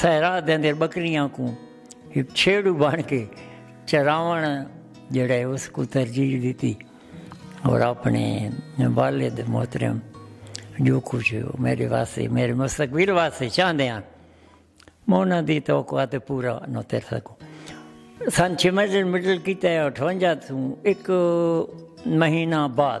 صحرا دے اندر بکریاں کوں ہک چھیڑو بن کے چراوݨ جیڑھا ہے اس کوں ترجیح ݙتی اور اپنے والد محترم جو کچھ میرے واسطے میرے مستقبل واسطے چاہندے ہیں میں انہاں دی توقعات پورا نہ کر سکوں سن چھ مڈل مڈل کیتا ہے اٹھونجا توں ایک مہینہ بعد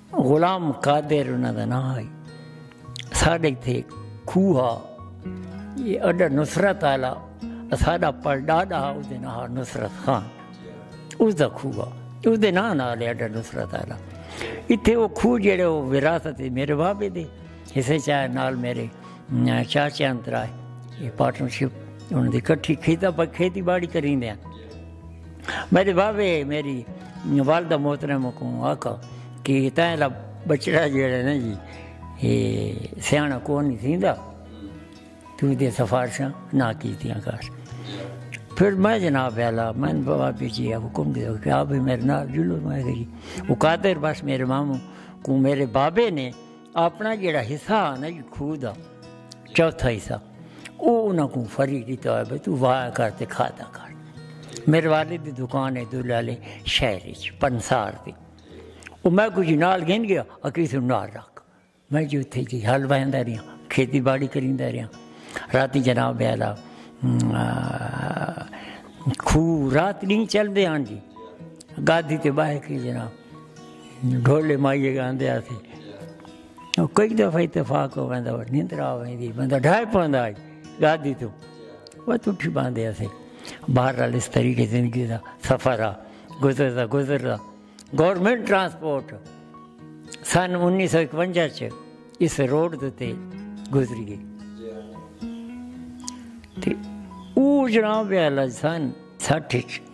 غلام قادر انہاں دا ناں ہئی۔ اساڈے اتھے کھوہ ہا یہ اڈا نصرت آلا اساڈا پڑ ڈاڈا ہا اودے ناں ہا نصرت خان اس دا کھوہ ہا اودے ناں ناں لے اڈا نصرت آلا اتھے وہ کھوہ جڑے وہ وراثت میرے بابے دے حصے چاہے نال میرے چاچے انترائے پارٹنرشپ انہاں دی کٹھی کھیتا پا کھیتی باڑی کریں دے ہیں میݙے بابے میݙی والدہ محترمہ کوں آکھا کہ تاں دا ٻچڑا جیڑھا نا جی اے سیاݨا کونی تھیندا توں ایندیاں سفارشاں نہ کیتیاں کر پھر میں جناب ویلا میں بابا بھی جی حکم دے کہ آپ بھی میرے نال جلو میں گئی وہ قادر بس میرے ماموں کو میرے بابے نے اپنا جڑا حصہ آنا جی کھو دا چوتھا حصہ او انہاں کو فری کیتا ہے تو وایا کر تے کھادا کر میرے والد دی دکان ہے دلالے شہر وچ پنسار دی او میں کو جی نال گھن گیا اکی سو نال رکھ میں جو تھے جی حل بہندا رہیا کھیتی باڑی کریندا رہیا راتی جناب بیالا کھو رات نہیں چل دے ہاں جی گادی تے باہے کی جناب ڈھولے مائیے گاندے آسی او کئی دفعہ اتفاق ہو ویندا وہ نیندر آ ویندی بندہ ڈھائے پاندا آج گادی تو وہ تو اٹھی باندے آسی باہر رال اس طریقے زندگی دا سفر آ گزر دا گزر دا گورنمنٹ ٹرانسپورٹ سن انیس سو اکونجا چھ اس روڈ دے گزری گئی او جناب ہے لجسن سٹھ چھ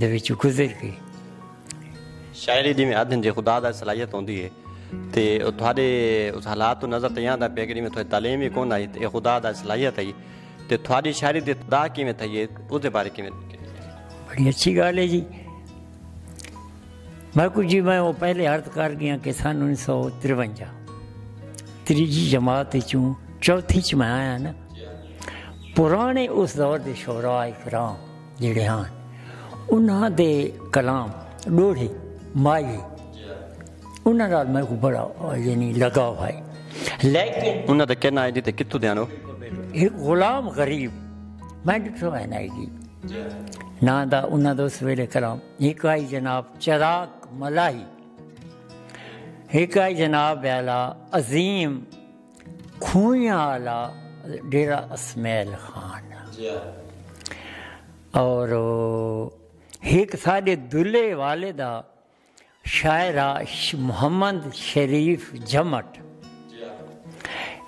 دے وچوں گزر گئی۔ شاعری جیویں آدھن جے خدا دا صلاحیت ہوندی ہے تے او تہاڈے اس حالات توں نظر تئیں آندا پئے کہ جیویں تہاڈی تعلیم ہی کون آئی تے اے خدا دا صلاحیت ہئی تے تہاڈی شاعری دی ابتدا کیویں تھئی ہے اس دے بارے کیویں بڑی اچھی گال ہے جی میں کچھ جی میں وہ پہلے عرض کر گیا کہ سن انیس سو ترونجا تریجی جماعت چوں چوتھی چ میں آیا نا پرانے اس دور دے شعراء کرام جیڑھے ہن انہاں دے کلام ݙوہڑے ماہیے انہاں نال میکوں بڑا یعنی لگاؤ ہائے لیکن۔ انہاں دے کن آئیں دی تے کتھوں دیاں او۔ ہک غلام غریب میں ݙٹھو ہے نائی جی ناں دا انہاں دا اس ویلے کلام ہک آئی جناب چراغ ملاحی ہک آئی جناب ویلا عظیم۔ کھوئیاں آلا ڈیرہ اسمعیل خان اور ہک ساڈے دلے والے دا شاعر محمد شریف جمٹ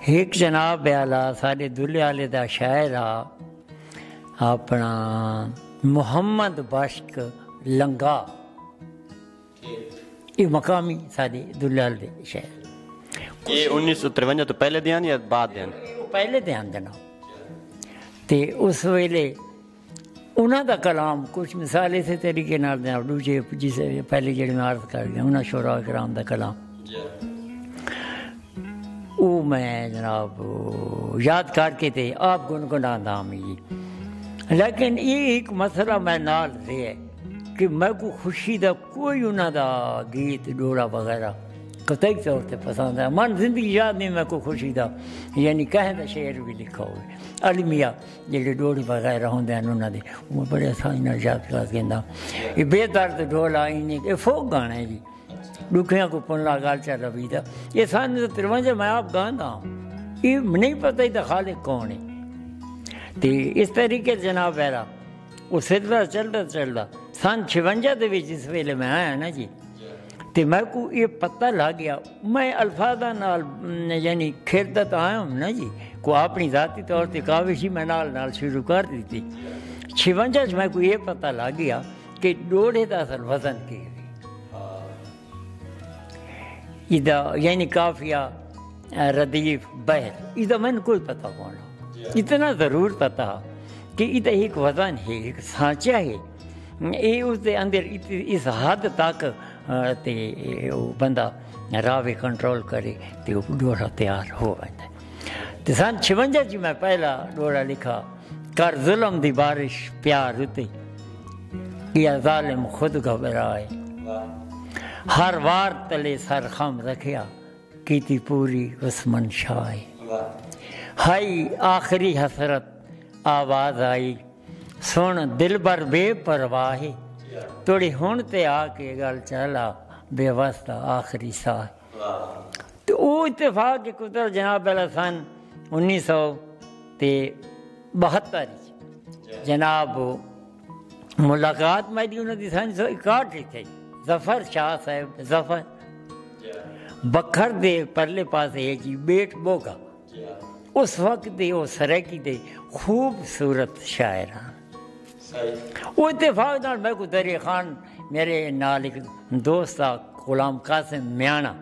ہک جناب آلا ساڈے دلے والے دا شاعر اپنا محمد بشک لنگا ایہ مقامی ساڈے دلال دے شہر۔ ایہ انیس سو ترونجا توں پہلے دیاں یا بعد دیاں؟ پہلے دیاں دے ناں تے اس ویلے انہاں دا کلام کچھ مثال اسے طریقے نال دیاں ڈوجھے جس پہلے جڑے میں عرض کر دیاں انہاں شعراء کرام دا کلام او میں جناب یاد کر کے تے آپ گنگناں دا ہم جی لیکن یہ ایک مسئلہ میں نال رہے کہ میں کو خوشی دا کوئی انہاں دا گیت ڈوڑا وغیرہ قطعی طور تے پسند ہے من زندگی یاد نہیں میں کو خوشی دا یعنی کہیں دا شعر بھی لکھا ہوئے علمیہ جڑے ڈوڑے وغیرہ ہوں دے انہوں دے وہ بڑے آسانی نال یاد کر گیندا یہ بے درد ڈول آئی نہیں یہ فوق گانا ہے جی ڈکھیاں کو پن لا گال چا ربی دا یہ سان دا ترونجہ میں آپ گاندا ہوں یہ نہیں پتہ ہی دا خالق کون ہے تے اس طریقے جناب ہے او سلسلہ چلدا چلدا سن چھونجا دے وچ جس ویلے میں آیا نا جی تے میں کو اے پتہ لگ گیا میں الفاظاں نال یعنی کھیلدا تاں آیا ہوں نا جی کو اپنی ذاتی طور تے کاوش ہی میں نال نال شروع کر دیتی چھونجا وچ میں کو اے پتہ لگ گیا کہ ڈوڑھے دا اصل وزن کی ہے ادا یعنی کافیہ ردیف بحر ادا میں نے کوئی پتہ کون ہو اتنا ضرور پتہ ہو کہ ادا ایک وزن ہے ایک سانچہ ہے اے اس دے اندر اس حد تک تے بندہ راوے کنٹرول کرے تے ڈورا تیار ہو بندہ تے سن چھونجا اچ میں پہلا ڈوڑا لکھا کر ظلم دی بارش پیار اتے کیا ظالم خود گھبرائے ہر وار تلے سر خم رکھیا کیتی پوری اس منشائے ہائی آخری حسرت آواز آئی سن دلبر بے پرواہ توڑی ہن تے آ کے گل چلا بے واسطہ آخری ساہ تے او اتفاق دی قدرت جناب والا سن انیس سو تے بہتر اچ جناب ملاقات میری انہاں دی سن سو اکاٹھ اچ تھئی ظفر شاہ صاحب ظفر بکھر دے پرلے پاسے ہے جی بیٹ بوگا اس وقت دے او سرائیکی دے خوب صورت شاعر ہن۔ او اتفاق نال میکوں دریا خان میرے نال ہک دوست آ غلام قاسم میانڑاں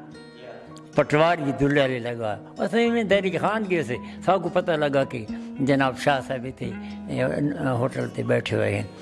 پٹواری دلہ لے لگا۔ اساں ایویں دریا خان گئے سے ساکوں پتہ لگا کہ جناب شاہ صاحب ایتھے ہوٹل تے بیٹھے ہوئے ہن۔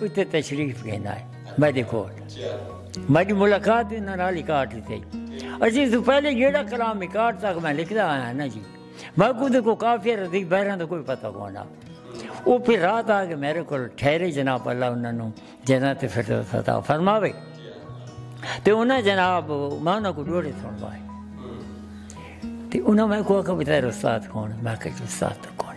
اتے تشریف گھندا ہے میڈے کول میڈی ملاقات بھی انہاں نال اکاٹ ہی تھئی اسی تو پہلے جیڑا کلام اکاٹ تک میں لکھدا آیا نا جی میں کو دے کو کافی رضی بہران دا کوئی پتہ کونا او پھر رات آ کے میرے کول ٹھہرے جناب اللہ انہاں نو جنت فردوس عطا فرماوے تے انہاں جناب میں انہاں کو ڈوڑے سن وائے تے انہاں میں کو آکھا بتائے استاد کون میں کہ استاد کون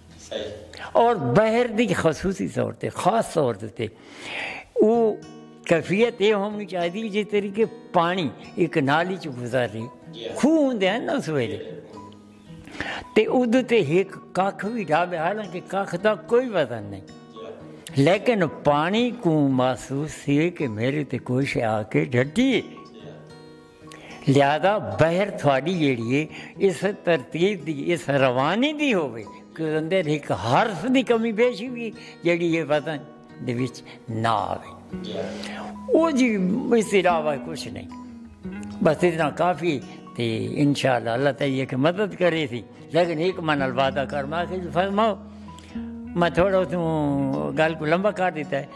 اور بحر دی خصوصی طور تے خاص طور تے او کیفیت یہ ہونی چاہیے جس طریقے پانی ایک نالی چ گزر رہی جی ہاں۔ خوہ ہوں ہیں نا سویرے تے ادو تے ایک کھ بھی ڈھابے حالانکہ کھ دا کوئی وزن نہیں جی ہاں۔ لیکن پانی کو محسوس تھی کہ میرے تے کوئی شے آ کے ڈھٹی ہے جی ہاں۔ لہذا بحر تھاڈی جیڑھی اے اس ترتیب دی اس روانی دی ہووے کہ اندر ہک حرف دی کمی بیشی وی جیڑھی اے وزن دے وچ نہ آوے او جی اس دے علاوہ کچھ نئیں بس اتنا کافی اے تے انشاءاللہ اللہ تعالی اک مدد کرے سی لیکن ہک ماں نال وعدہ کر ماں آکھیا جی فرماؤ میں تھوڑا اتھوں گل کوں لمبا کر ݙتا ہے۔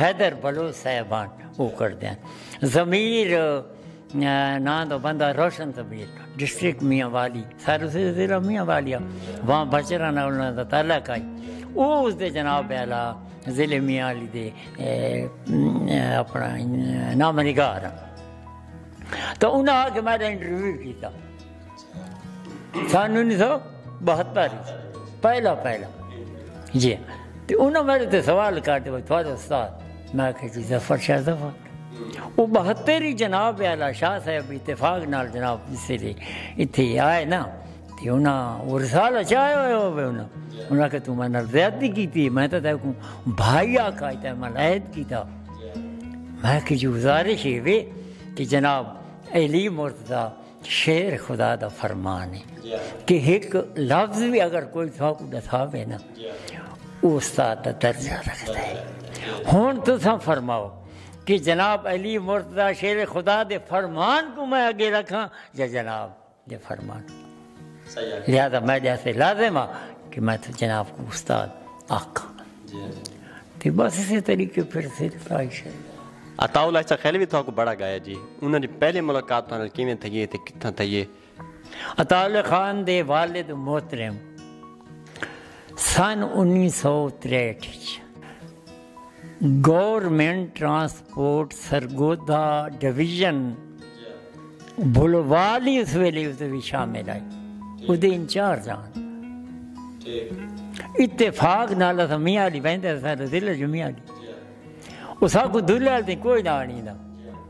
حیدر بلوچ صاحبان او کردین ضمیر ناں دا بندہ روشن ضمیر ڈسٹرکٹ میاں والی سارے سے ضلع میاں والی وہاں بچرا نہ انہاں دا تعلق ہے او اس دے جناب اعلی ضلع میاں والی دے اپنا نام نگار تو انہاں آ کے میرا انٹرویو کیتا سن انیس سو بہتر پہلا پہلا جی تو انہوں میرے تے سوال کر دے بھائی تھوڑا استاد میں کہ جی ظفر شاہ ظفر وہ بہتر ہی جناب والا شاہ صاحب اتفاق نال جناب اسے لے اتھے آئے نا تے انہاں وہ رسالہ چاہے ہوئے ہوئے انہاں انہاں کہ تو میں نال زیادتی کی تھی میں تو دیکھ کوں بھائی آکھا ہے تو میں لہت کی تھا میں کہ جو گزارش ہے کہ جناب علی مرتضی شعر خدا دا فرمان ہے کہ ہک لفظ وی اگر کوئی تھاکوں ڈساوے نا او استاد دا درجہ رکھدا ہے ہن تساں فرماؤ کہ جناب علی مرتضی شعر خدا دے فرمان کوں میں اگے رکھاں یا جناب دے فرمان کوں لہذا میڈے واسطے لازم آ کہ میں جناب کوں استاد آکھاں۔ تے بس اسے طریقے پھر اسے تاں شاید۔ عطاء اللہ عیسی خیلوی تہاکوں بڑا گایا جی انہاں دی پہلی ملاقات تہاڈے نال کیویں تھئی ہے تے کتھاں تھئی ہے؟ عطاء اللہ خان دے والد محترم سن انیس سو تریہٹھ اچ government transport Sargodha division, Bhalwal ہی اس ویلے اس وچ شامل آئی اس دے انچارج آن اتفاق نال اسا میاں علی ویندے اسا ضلع جو میاں علی اس کو دلال دی کوئی نہ آنی دا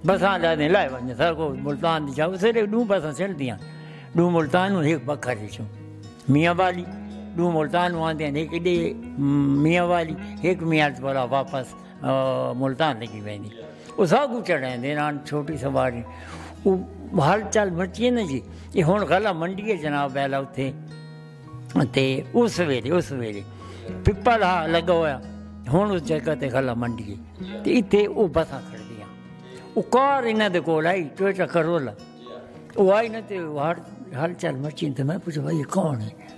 بساں لے دے لائے ونجے سر کو ملتان دی جاؤ سرے دو بساں چل دیاں دو ملتان ہوں ایک بکھر دی چھو میاں والی دو ملتان ہوں آن دیاں ایک دے میاں والی ایک میاں علی والا واپس ملتان لگی ویندی او ساگو چڑھیں دے نان چھوٹی سواری او حال چال مچی نہ جی یہ ہن غلہ منڈی ہے جناب بیلا اوتھے تے اس ویلے اس ویلے پپا لا لگا ہویا ہن اس جگہ تے غلہ منڈی ہے تے ایتھے او بسا کھڑ دیا او کار انہاں دے کول آئی ٹویٹا کرولا او آئی نہ تے ہر حال چال مچی تے میں پوچھا بھائی کون ہے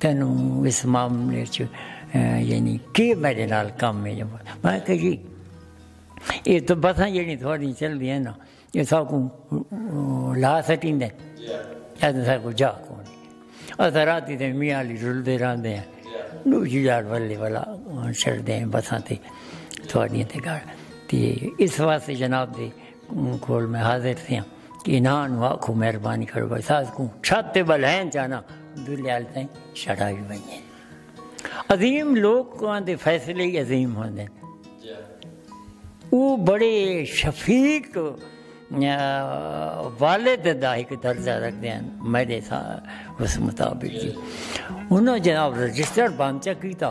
تینوں اس معاملے وچ یعنی کے میڈے نال کم ہے؟ میں کہا جی یہ تو بساں جیڑی تھوڑی چل دی ہیں نا یہ سا کو لا سٹیں دے ایسا سا کو جا کو نہیں ایسا راتی دے میاں لی رول دے رہن دے ہیں نو جی جار والے والا چڑھ دے ہیں بساں تے تھوڑی ہیں تے گاڑ تے اس واسے جناب دے کوں کھول میں حاضر تھیاں کہ انہاں نو آکھو مہربانی کرو بھائی ساز کوں چھت تے بلہن چانا دلے آل تائیں شڑا بھی بنیے عظیم لوگ کو آن دے فیصلے ہی عظیم ہوں دے او بڑے شفیق والد دا ایک درجہ رکھ دے ہیں میرے سا اس مطابق جی انہوں جناب رجسٹر بانچہ کیتا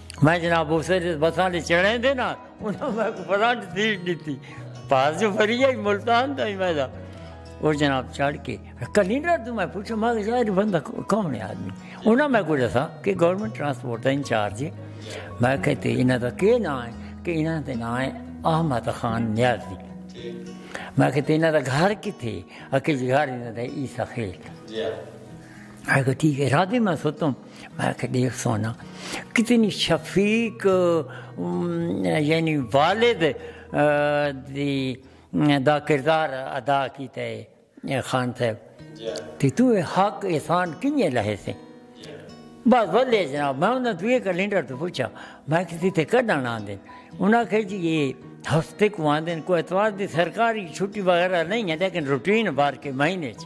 میں جناب اسے جس بساں دے چڑھیں دے نا انہاں میں کو فرانٹ سیٹ دیتی پاس جو فری آئی ملتان دا ہی میں دا اور جناب چڑھ کے کلینر تو میں پوچھا ماں کہ ظاہر بندہ کون ہے آدمی انہاں میں کو جسا کہ گورنمنٹ ٹرانسپورٹ ہے انچارج ہے میں کہتے انہاں دا کے نا ہے کہ انہاں دے نا ہے احمد خان نیازی میں کہتے انہاں دا گھر کی تھے اکیج گھر انہاں دا عیسیٰ خیل تھا میں کہا ٹھیک ہے راضی میں سوتوں میں کہا دیکھ سونا کتنی شفیق یعنی والد دی دا کردار ادا کیتا ہے خان صاحب جی۔ تے تو اے حق احسان کنجے لہے سے جی۔ بس ولے جناب میں انہاں تو یہ کلینڈر تو پوچھا میں کسی تے کڈن آندے انہاں کہے جی یہ ہفتے کو آندے کوئی اتوار دی سرکاری چھٹی وغیرہ نہیں ہے لیکن روٹین بار کے مہینے چ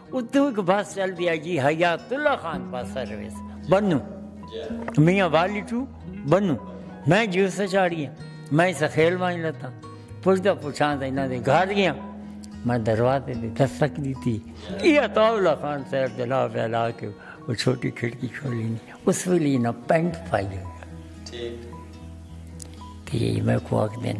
اتوں ہک بس چلدی آئی جی حیات اللہ خان بس سروس بنوں میاں والی ٹو بنوں میں جیو سے چاڑی ہاں میں سخیل وائیں لتا پوچھدا پوچھاں تے انہاں دے گھر گیا میں دروازے دے دستک دیتی یہ عطا اللہ خان صاحب جناب اعلی کے وہ چھوٹی کھڑکی کھولی نہیں اس ویلے نہ پینٹ پائی ہوئی ٹھیک تے میں کو آکھ دین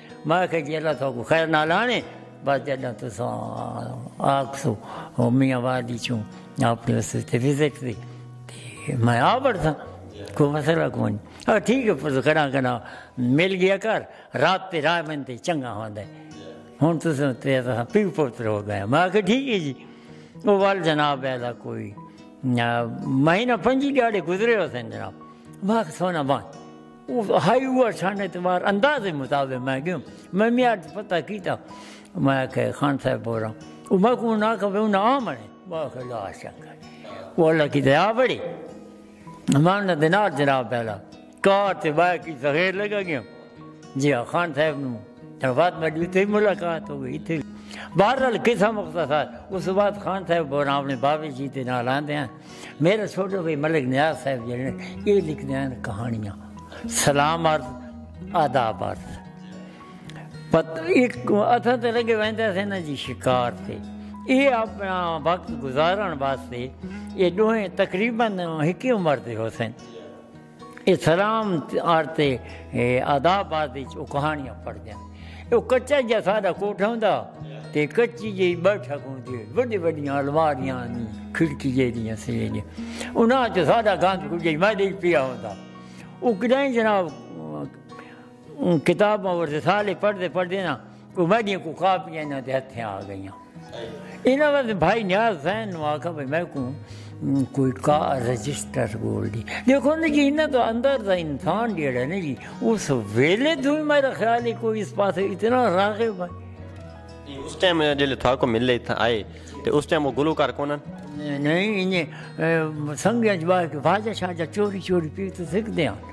میں آکھیا جی اللہ تہاکوں خیر نال آنے بس جڈاں تساں آکھسو میاں والی چوں اپنے اس تے وزٹ دی تے میں آ بڑساں کوئی مسئلہ کوئی نہیں آ ٹھیک ہے پس کنا کنا مل گیا کر رات تے رائے من تے چنگا ہوندا ہے ہن تساں تے تساں پیو پوتر ہو گئے میں آکھیا ٹھیک ہے جی وہ وال جناب ہے دا کوئی مہینہ پنجی ڈیڑے گزرے ہو سن جناب میں آکھیا سونا بان او ہائی ہوا چھان اعتبار انداز مطابق میں گیوں میں میاں اٹھ پتہ کیتا میں کہ خان صاحب بول رہا ہوں او میں کو نہ کہ انہاں نا آ منے میں کہ لا شک او اللہ کی دیا بڑی میں انہاں دے نال جناب پہلا کار تے بائے کی زغیر لگا گیا جی ہاں خان صاحب نو تر بعد میں ڈیتے ملاقات ہو گئی تھی بہرحال قصہ مختصر اس بعد خان صاحب بول رہا ہوں اپنے بابے جی دے نال آندے ہیں میرے چھوٹے بھائی ملک نیاز صاحب جڑے نے یہ لکھنے ہیں کہانیاں سلام عرض آداب عرض پت ایک اتھا تے لگے ویندا سے نا جی شکار تے یہ اپنا وقت گزارن واسطے یہ دوہیں تقریبا ہکی عمر دے ہو سن اسلام آرتے آداب آدے چھ او کہانیاں پڑھ دیاں۔ او کچا جا سادہ کوٹھا ہوں دا تے کچی جی بیٹھا کھوں دے۔ بڑی بڑی آلواریاں آنی کھڑکی جے دیاں سے جے دیاں۔ انہاں چھ سادہ گاندھ کھوں جے میں دے پیا ہوں دا۔ او کدائیں جناب۔ اوں کتاب ماں ورثالے پڑھدے پڑھدے نا کوئی میڈیاں کو کاپیاں انہاں دے ہتھیں آ گئیاں انہاں واسطے بھائی نیاز حسین نو آکھا بھائی میں کو کوئی کا رجسٹر بول دی دیکھو نا جی انہاں تو اندر دا انسان جیڑا نا جی اس ویلے تو ہی میرا خیال ہے کوئی اس پاس اتنا راغب ہے اس ٹائم جلے تھا کو ملے تھا آئے تے اس ٹائم وہ گلو کر کونن نہیں انہیں سنگیاں جباہ کے واجہ شاجہ چوری چوری پی تو سکھ دیاں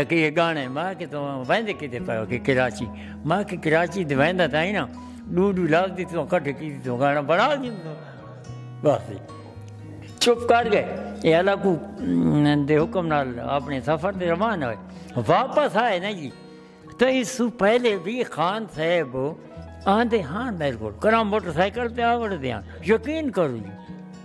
آکھے یہ گانے ماں کہ تو ویندے کدے پے ہو کہ کراچی ماں کہ کراچی تے ویندا تاں ہی نا ڈو ڈو لفظ دی تو کٹھے کی تو گانا بنا دی بس چپ کر گئے یہ اللہ کو دے حکم نال اپنے سفر دے روان ہوئے واپس آئے نا جی تو اس سو پہلے بھی خان صاحب آندے ہاں میرے کو کرام موٹر سائیکل پہ آوڑ دیاں یقین کرو جی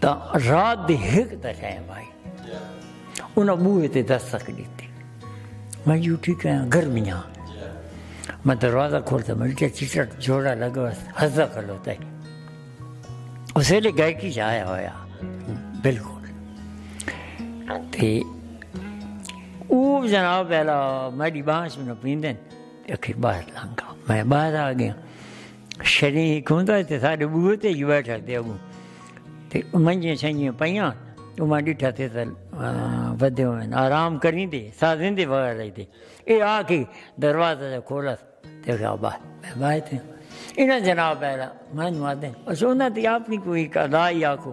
تاں رات دی ہک دا ٹائم آئی انہاں بوہے تے دستک ڈیتی میں جی اٹھی کہیں گرمیاں میں دروازہ کھولتا میں کیا چٹا جوڑا لگا ہزا کھل ہوتا ہے اس ویلے گائے کی جایا ہویا بالکل تے او جناب پہلا میری بانس میں پیندن اکھے باہر لانگا میں باہر آ گیا شری ہک ہوندا ہے تے ساڈے بوئے تے ہی بیٹھا تے اگوں تے منجیاں شنجیاں پیاں او میں ڈٹھا تے تل ودے ہوئے آرام کریں دے سازیں دے وغیر رہی دے اے آ کے دروازہ دے کھولا تے کہا با میں بائے تے انہاں جناب ہے میں نوادے اچھا انہاں تے اپنی کوئی قضائی آکھو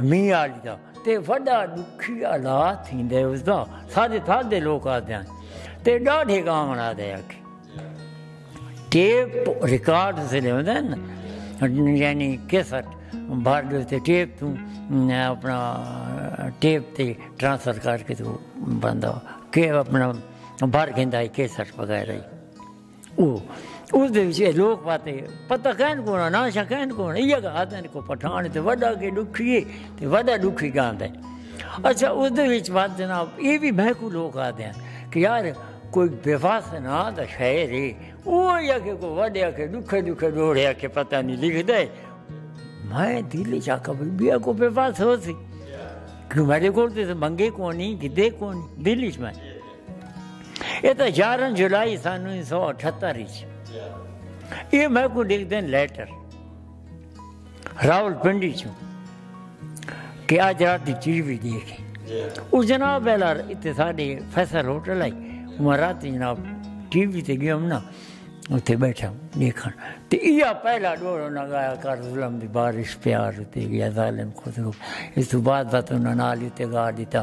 مینہ آلیاں تے وڈا دکھیا لا تھیندے اس دا ساجے تھا دے لوگ آ دیاں تے ڈاڑھے گاون آ دے آکے ٹیپ ریکارڈ سے لے ہوندے ہیں یعنی کیسٹ بھر دے تے ٹیپ تو اپنا ٹیپ تے ٹرانسفر کر کے تو بندہ کہ اپنا بھر گھندا ہے کیسٹ وغیرہ ہی او اس دے وچ اے لوک پاتے پتہ کین کون نہ شا کین کون ایہ گا آدن کو پٹھان تے وڈا کے دکھیے تے وڈا دکھی گاندے اچھا اس دے وچ بات جناب اے بھی میں کو لوک آدے ہیں کہ یار کوئی بے واس نہ دا شاعر ہے او یا کہ کو وڈیا کے دکھے دکھے ڈوڑیا کے پتہ نہیں لکھ دے میں دل چا کبھی بیا کو بے واس ہو سی کیوں میرے کو تے منگے کونی گدے کونی دل چ میں اے تاں یارہاں جولائی سن انیس سو اٹھتر اچ اے میکوں ڈکھدن لیٹر راول پنڈی چوں کہ آج رات دی ٹی وی دیکھے اس جناب بیلار اتے ساڑے فیصل ہوٹل آئی میں رات جناب ٹی وی تے گیا ہوں نا اتے بیٹھا ہوں دیکھا تے ایا پہلا دور انہاں گایا کر ظلم دی بارش پیار اتے گیا ظالم خود ہو اس تو بعد بات انہاں نالی تے گا دیتا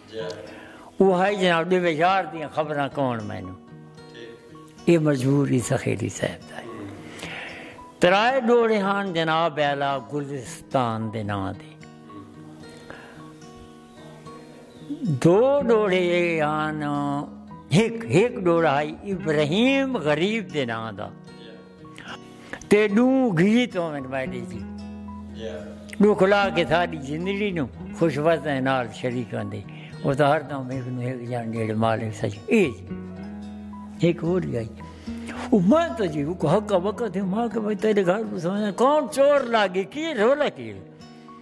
او ہائے جناب دے وے یار دیاں خبراں کون مینوں اے مجبوری سخیری صاحب دا ترائے ڈوڑے ہان جناب اعلی گلستان دے نام دے دو ڈوڑے ہان ہک ہک ڈوڑا ہائی ابراہیم غریب دے نام دا تے ݙوں گیت ہوون میݙے جی ݙوں کھلا کے ساݙی زندڑی نوں خوش وسیں نال شریک ہوندے او تاں ہر دم ہک نوں ہک جان جیڑھے مالک سچ اے جی ہک ہور جی آئی او میں تو جی حق وقت ماں کے بھائی تیرے گھر کون چور لاگے کی رولا کی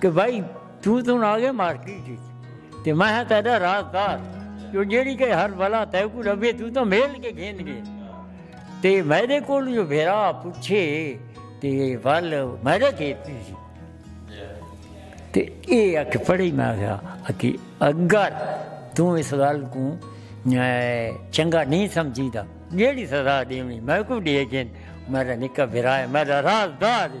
کہ بھائی توں توں آ گئے مارکیٹ تے میں ہاں تیرا راہ کار جو جیڑی کہ ہر بلا تے کو ربے تو تو میل کے گھن گئے تے میرے کو جو بھیرا پوچھے تے ول میرے کے پیسی تے اے اک پڑی میں گیا کہ اگر توں اس گل کو چنگا نہیں سمجھی دا جیڑی سزا دیونی میں کو دیے گھن میرا نکا بھیرا ہے میرا راز دار ہے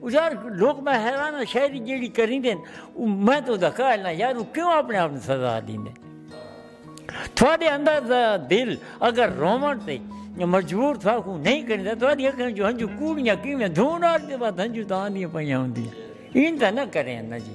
او یار لوک میں حیران ہاں شاعری جیڑی کریندے ہن او میں تو دا قائل نہ یار او کیوں اپنے آپ نو سزا دیندے تھوڑے اندر دا دل اگر رومن تے مجبور تھا کو نہیں کریندا تھوڑی اکھاں جو ہنجو کوڑیاں کیویں دھون آ دے بعد ہنجو تاں آندیاں پئیاں ہوندیاں این تاں نہ کریں نہ جی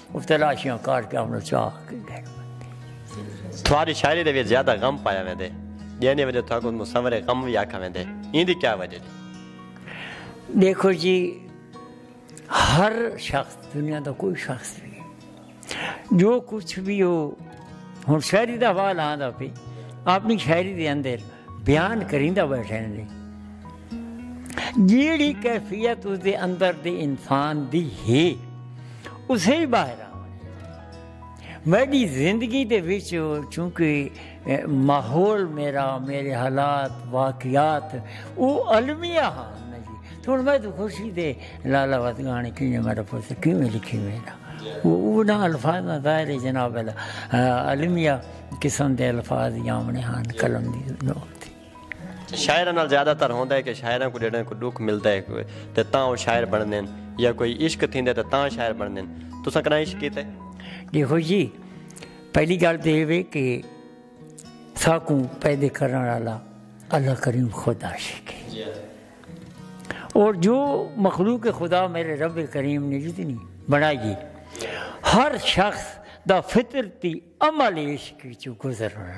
او تلاشیاں کر کے آمنو چاہ کے گھن بندے۔ تھواری شاعری دے وچ زیادہ غم پایا ویندے جیں دی وجہ تھاکوں مصور غم وی آکھا ویندے ایں دی کیا وجہ جی؟ دیکھو جی ہر شخص دنیا دا کوئی شخص بھی جو کچھ بھی ہو ہن شاعری دا حوال آندا پی اپنی شاعری دے اندر بیان کریندا بیٹھے نے جیڑھی کیفیت اس دے اندر دے انسان دی ہے اسے ہی باہر آ میری زندگی دے وچ چونکہ ماحول میرا میرے حالات واقعات او المیہ ہاں تو ہوں میں تو خوشی دے لالا وت گانے کی میرا پوت کیوں لکھی میرا وہ نہ الفاظ نہ ظاہر ہے جناب المیہ قسم دے الفاظ یامنے ہان قلم دی نوت شاعراں نال زیادہ تر ہوندا ہے کہ شاعراں کوں جڈاں کوئی ڈکھ ملدا ہے تے تاں او شاعر بنڑدے ہن یا کوئی عشق تھیندا ہے تے تاں شاعر بنڑدے ہن تساں کنا عشق کیتا ہے دیکھو جی پہلی گالھ تے ایہ وے کہ ساکوں پیدا کرن والا اللہ کریم خود عاشق ہے جی۔ اور جو مخلوق خدا میرے رب کریم نے جتنی جی بنائی ہے ہر شخص دا فطرتی عمل عشق وچوں گزرنا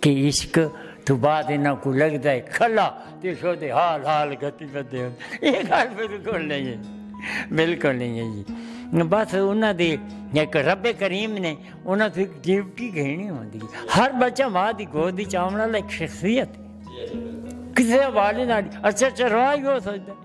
کہ عشق تو بعد انہاں کو لگدا ہے کھلا تے سودے حال حال گھتی بدے ہن اے گال بالکل نہیں ہے بالکل نہیں ہے جی بس انہاں دے ایک رب کریم نے انہاں تو ایک ڈیوٹی گھنی ہوندی ہے ہر بچہ ماں دی گود وچ آونا لے ایک شخصیت کسے حوالے نال اچھا اچھا راہ ہی ہو سکدا ہے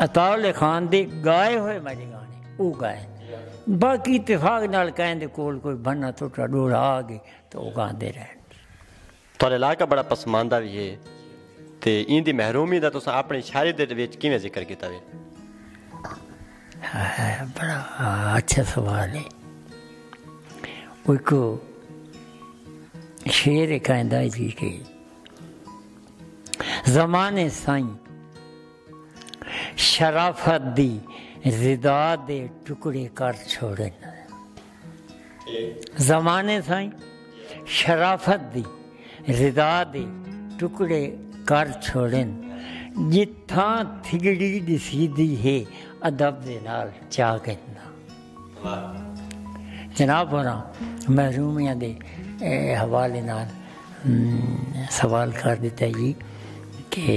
عطاء اللہ خان دے گائے ہوئے ماجے گانے او گائے باقی اتفاق نال کہیں دے کول کوئی بھنا تھوٹا ڈوڑا آگے تو او گاں دے رہن تھوڑے علاقہ بڑا پسماندہ بھی ہے تے این دی محرومی دا تو ساں اپنے شاعری دے ویچ کیویں ذکر کیتا وے بڑا اچھا سوال ہے کوئی کو شیر کہیں دا جی کہ زمانے سائیں شرافت دی زدا دے ٹکڑے کر چھوڑے زمانے سائیں شرافت دی زدا دے ٹکڑے کر چھوڑے جتھاں تھگڑی دسی دی ہے ادب دے نال چاہ گئے جناب ہوراں محرومیاں دے حوالے نال سوال کر ݙتا جی کہ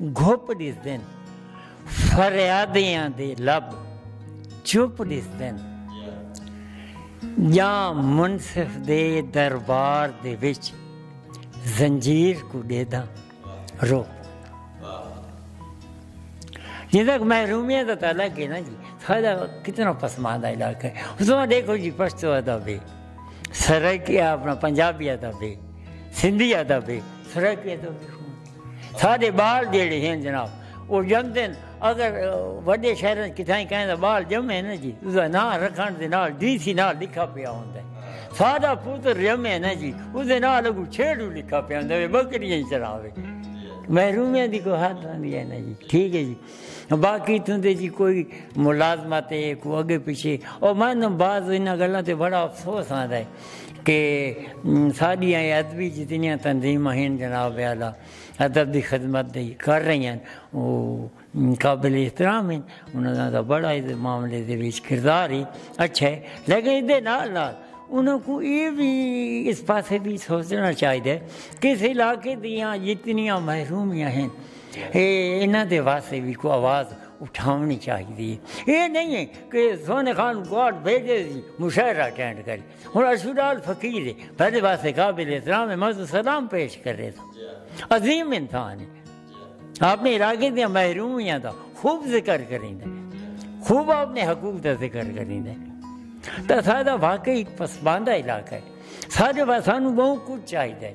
گھپ ڈسدن فریادیاں دے لب چپ ڈسدن جاں منصف دے دربار دے وچ زنجیر کو ڈیدھاں رو جی تک محرومیاں دا تعلق ہے نا جی ساڈا کتنا پسماندہ علاقہ ہے اس میں دیکھو جی پشتو ادب ہے سرکی اپنا پنجابی ادب ہے سندھی ادب ہے سرکی ادب ہے ساڈے بال جیڑھے ہن جناب او جمدن اگر وڈے شہر وچ کتھائیں کہیں دا بال جمے نا جی اس دا نام رکھن دے نال ڈی سی نال لکھا پیا ہوندا ہے ساڈا پتر جمے نا جی اس دے نال اگو چھیڑو لکھا پیا ہوندا ہے بکریاں چراوے محرومیاں دی کوئی حد ہوندی ہے نا جی ٹھیک ہے جی باقی تہندے جی کوئی ملازمت ہے کوئی اگے پیچھے او مینوں بعض انہاں گلاں تے بڑا افسوس آندا ہے کہ ساڈیاں اے ادبی جتنیاں تنظیماں ہن جناب اعلی ادب دی خدمت دی کر رہی ہن او قابل احترام ہن انہاں دا بڑا اے معاملے دے وچ کردار ہے اچھا ہے لیکن ایں دے نال نال انہاں کوں اے وی اس پاسے وی سوچنا چاہیدا ہے کہ اس علاقے دیاں جتنیاں محرومیاں ہن اے انہاں دے واسطے وی کوئی آواز اٹھاونڑی چاہیدی اے۔ اے نئیں اے کہ سوہنے خان گارڈ بھیجے سی مشاعرہ اٹینڈ کرے۔ ہن اشو ڈال فقیر اے۔ بھلے واسطے قابل احترام اے۔ میں سلام پیش کرے تھاں۔ عظیم انسان اے۔ اپنے علاقے دیاں محرومیاں دا خوب ذکر کریندے۔ خوب اپنے حقوق دا ذکر کریندے۔ تاں ساڈا واقعی پسماندہ علاقہ اے۔ ساڈے واسطے سانوں بہوں کچھ چاہیدا اے۔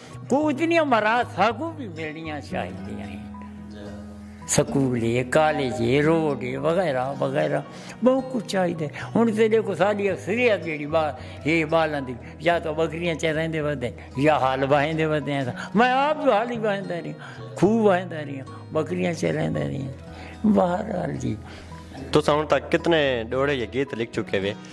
کوں اتنیاں مراعات ساکوں وی ملنیاں چاہیدیاں ہن۔ سکول اے، کالج اے، روڈ اے وغیرہ وغیرہ بہوں کچھ چاہیدا ہے۔ ہن تساں ݙیکھو ساݙی اکثریت جیڑھی ہے ٻالاں دی یا تاں ٻکریاں چریندے ودے ہن یا ہل واہندے ودے ہن۔ میں آپ جو ہل ای واہندا رہیا، کھوہ واہندا رہیا، ٻکریاں چریندا رہیا۔ بہرحال جی۔ تساں ہݨ تک کتنے ݙوہڑے یا گیت لکھ چکے وے۔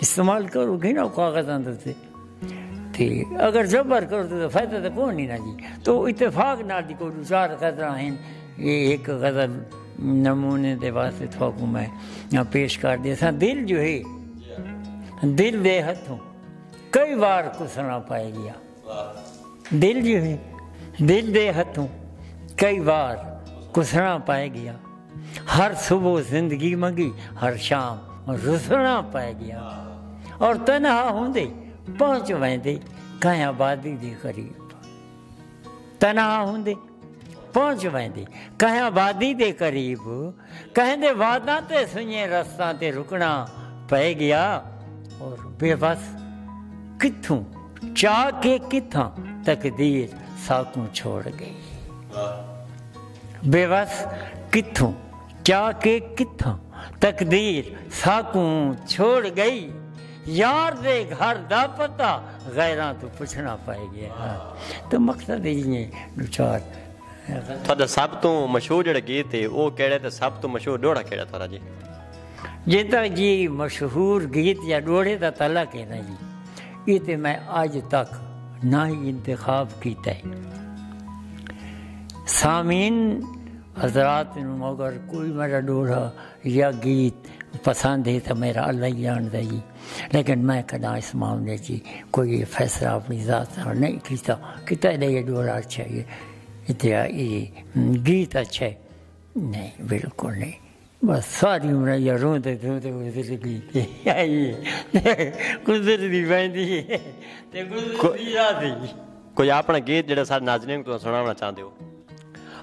استعمال کرو گے نا کاغذ اندر تے تے اگر جبر کرو تے فائدہ تے کوئی نہیں نا جی تو اتفاق نال دی کوئی چار غزلاں ہیں یہ ایک غزل نمونے دے واسطے تھوکو میں پیش کر دے سا دل جو ہے دل دے ہتھوں کئی وار کسنا پائے گیا دل جی ہوئی دل دے ہتھوں کئی وار کسنا پائے گیا ہر صبح زندگی منگی ہر شام رسنا پائے گیا اور تنہا ہوں دے پہنچ ویندے کہیں آبادی دے قریب تنہا ہوں دے پہنچ ویندی کہیں وادی دے قریب کہیں دے واداں تے سنجھیں رستاں تے رکنا پئے گیا اور بے بس کتھوں چاہ کے کتھاں تقدیر ساکوں چھوڑ گئی بے بس کتھوں چاہ کے کتھاں تقدیر ساکوں چھوڑ گئی یار دے گھر دا پتہ غیراں توں پچھنا پئے گئے ہاں تو مقصد ہی ہے دوچار تھوڑا سب تو مشہور جڑا گیت ہے وہ کیڑے تے سب تو مشہور ڈوڑا کیڑا تھوڑا جی جے تک جی مشہور گیت یا ڈوڑے دا تعلق ہے نا جی یہ تے میں آج تک نہ ہی انتخاب کیتا ہے سامین حضرات مگر کوئی میرا ڈوڑا یا گیت پسند ہے تاں میرا اللہ ہی جاندا جی لیکن میں کدا اس معاملے جی کوئی فیصلہ اپنی ذات نال نہیں کیتا کہ تیرے یہ ڈولا اچھا ہے اتیا یہ گیت اچھا ہے نہیں بالکل نہیں بس ساری عمر یا روندے روندے گزر گئی گزر دی ویندی ہے تے گزر دی راضی کوئی اپنا گیت جڑا سارے ناظرین کو سناونا چاہندے ہو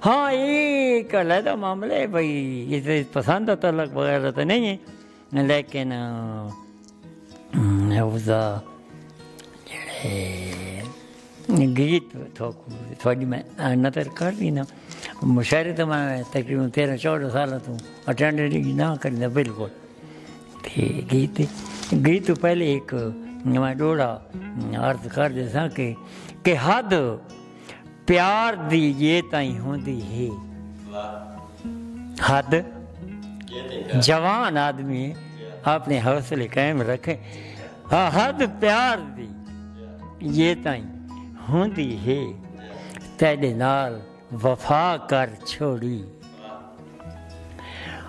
ہاں اے ہک علیحدہ معاملہ ہے بھئی عزت پسند دا تعلق وغیرہ تے نہیں ہے لیکن اس دا جڑے گیت تھوڑی میں نظر کر دینا مشاعرے تو میں تقریبا تیرہ چودہ سال تو اٹینڈ نہیں نہ کرنا بالکل تے گیت گیت تو پہلے ایک میں ڈوڑا عرض کر دے سا کہ کہ حد پیار دی یہ تائیں ہوندی ہے حد جوان آدمی اپنے حوصلے قائم رکھے حد پیار دی یہ تائیں ہوندی ہے تیڈے نال وفا کر چھوڑی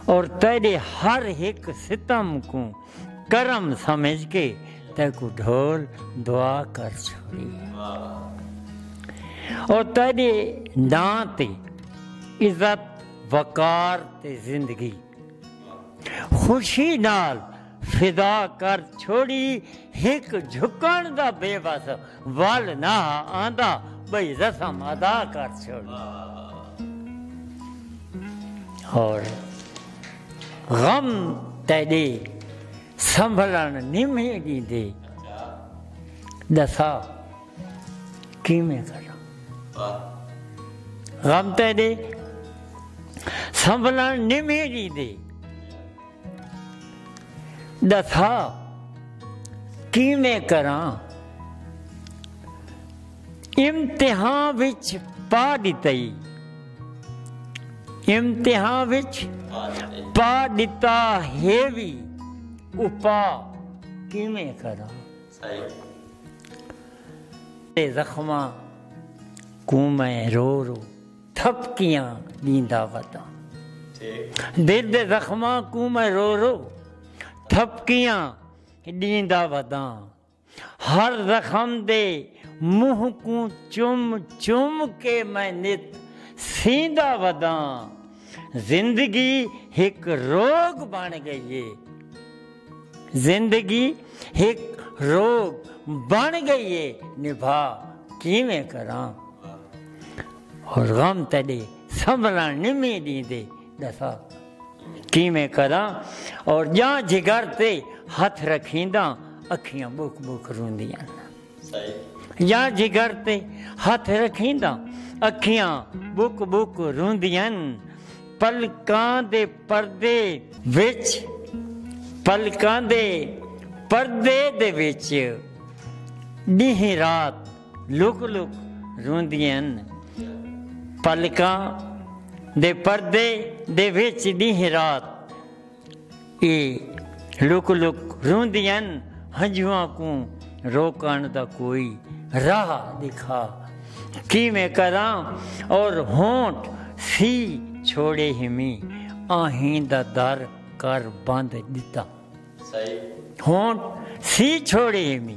اور تیڈے ہر ایک ستم کو کرم سمجھ کے تیکوں ڈھول دعا کر چھوڑی او تیڈے ناں تے عزت وقار تے زندگی خوشی نال فدا کر چھوڑی ہک جھکن دا بے وس ول نہ آندا بھئی رسم ادا کر چھوڑی اور غم تیݙے سنبھلݨ نیم ہی ݙیندے ݙسا کیویں کراں غم تیݙے سنبھلݨ نیم ہی ݙیندے ݙسا کیویں کراں امتحان وچ پا ڈتئی امتحان وچ پا ڈتا ہے وی اپا کیویں کراں تے زخماں کوں میں رو رو تھپکیاں ڈیندا وداں دل دے زخماں کوں میں رو رو تھپکیاں ڈیندا وداں ہر زخم دے منہ کوں چم چم کے میں نت سیندا وداں زندگی ہک روگ بݨ ڳئی اے زندگی ہک روگ بݨ ڳئی اے نبھا کیویں کراں ہور غم تݙے سنبھلݨ نمیں ݙیندے ڈسا کیویں کراں اور جاں جگر تے ہتھ رکھینداں اکھیاں بک بک روندیاں جاں جگر تے ہتھ رکھینداں اکھیاں بک بک روندیاں پلکاں دے پردے وچ پلکاں دے پردے دے وچ ڈینہ رات لک لک روندیاں ہن پلکاں دے پردے دے وچ ݙینہہ رات اے لک لک روندیاں ہن ہنجھواں کوں روکݨ دا کوئی راہ ݙکھا کیویں کراں اور ہونٹ سی چھوڑے ہمی آہیں دا در کر بند ݙتا ہونٹ سی چھوڑے ہمی۔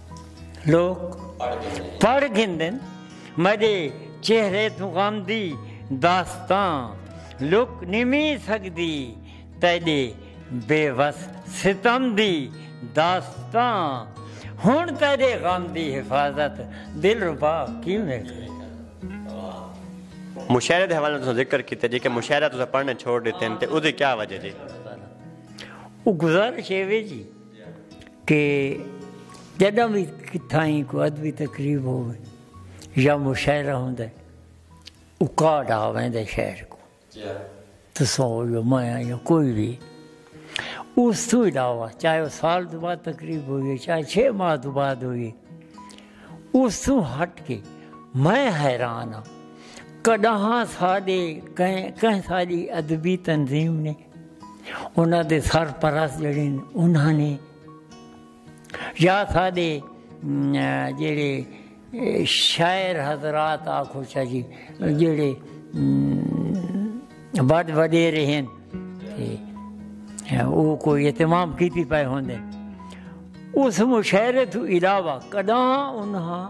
لوک پڑھ گھندن میڈے چہرے توں غم دی داستاں لک نمی سگدی تیڈے بے وس ستم دی داستاں ہن تیڈے غم دی حفاظت دلربا کیویں کرے۔ مشاعرے دے حوالے نال تساں ذکر کیتے جے کہ مشاعرہ تساں پڑھنے چھوڑ ڈتے ہن تے اودی کیا وجہ جی؟ او گزارش ایوے جی۔ کہ جݙاں وی کتھائیں کوئی ادبی تقریب ہووے یا مشاعرہ ہوندے او کارڈ آ ویندے شہر کوں تساں او یا میں آں یا کوئی وی اس توں علاوہ چاہے او سال دو بعد تقریب ہوئی ہے چاہے چھ ماہ دو بعد ہوئی ہے اس توں ہٹ کے میں حیران ہاں کݙاہاں ساݙے کہیں ساݙی ادبی تنظیم نے انہاں دے سرپرست جڑے انہاں نے یا سادے جڑے شاعر حضرات آکھو چا جی جڑے بڑ بڑے رہن وہ کوئی اہتمام کی پی پائے ہوندے اس مشاعرے تو علاوہ کداں انہاں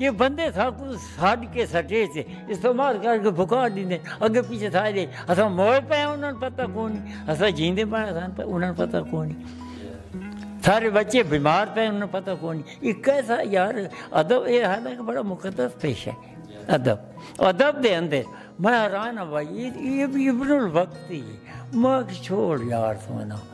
جے بندے ساکوں سڈ کے سٹے تے استعمال کر کے بھکا ڈیندے اگے پیچھے تھا دے اساں موئے پے انہاں نوں پتہ کوئی نہیں اساں جیندے پے اساں پے انہاں نوں پتہ کوئی نہیں سارے بچے بیمار پے انہاں نوں پتہ کوئی نہیں ایک کیسا یار ادب اے ہے نا کہ بڑا مقدس پیشہ ہے ادب ادب دے اندر میں حیران ہاں بھائی یہ ابن الوقت ہی ہے میں چھوڑ یار سونا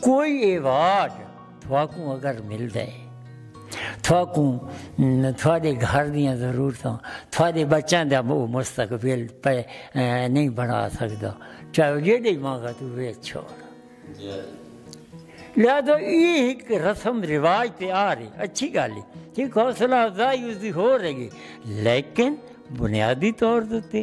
کوئی ایوارڈ تھواکوں اگر ملدا ہے تھواکوں تھوڑے گھر دیاں ضرورتاں تھوڑے بچاں دا وہ مستقبل پہ نہیں بنا سکدا چاہے وہ جیڈے مانگا تو وہ چھوڑ لہذا یہ ایک رسم رواج تے آ رہی اچھی گل ہے ایک حوصلہ افزائی اس دی ہو رہی ہے لیکن بنیادی طور تے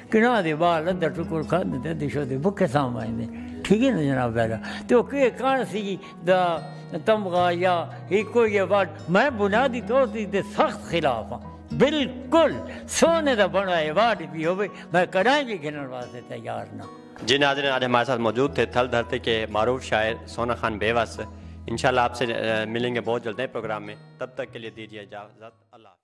کناں دے بال ادھا ٹکر کھاندے تے ادھے شودے بکھے سام آئیندے ٹھیک ہے نا جناب دادا تے او کہ کان سی دا تمغہ یا ہی کوئی ایوارڈ میں بنیادی طور تے دے سخت خلاف ہاں بالکل سونے دا بنڑا ایوارڈ بھی ہوے میں کڈاہیں وی گھنن واسطے تیار نہ جی ناظرین آج ہمارے ساتھ موجود تھے تھل دھرتی کے معروف شاعر سونا خان بیوس انشاءاللہ آپ سے ملیں گے بہت جلد نئے پروگرام میں تب تک کے لیے دیجیے اجازت اللہ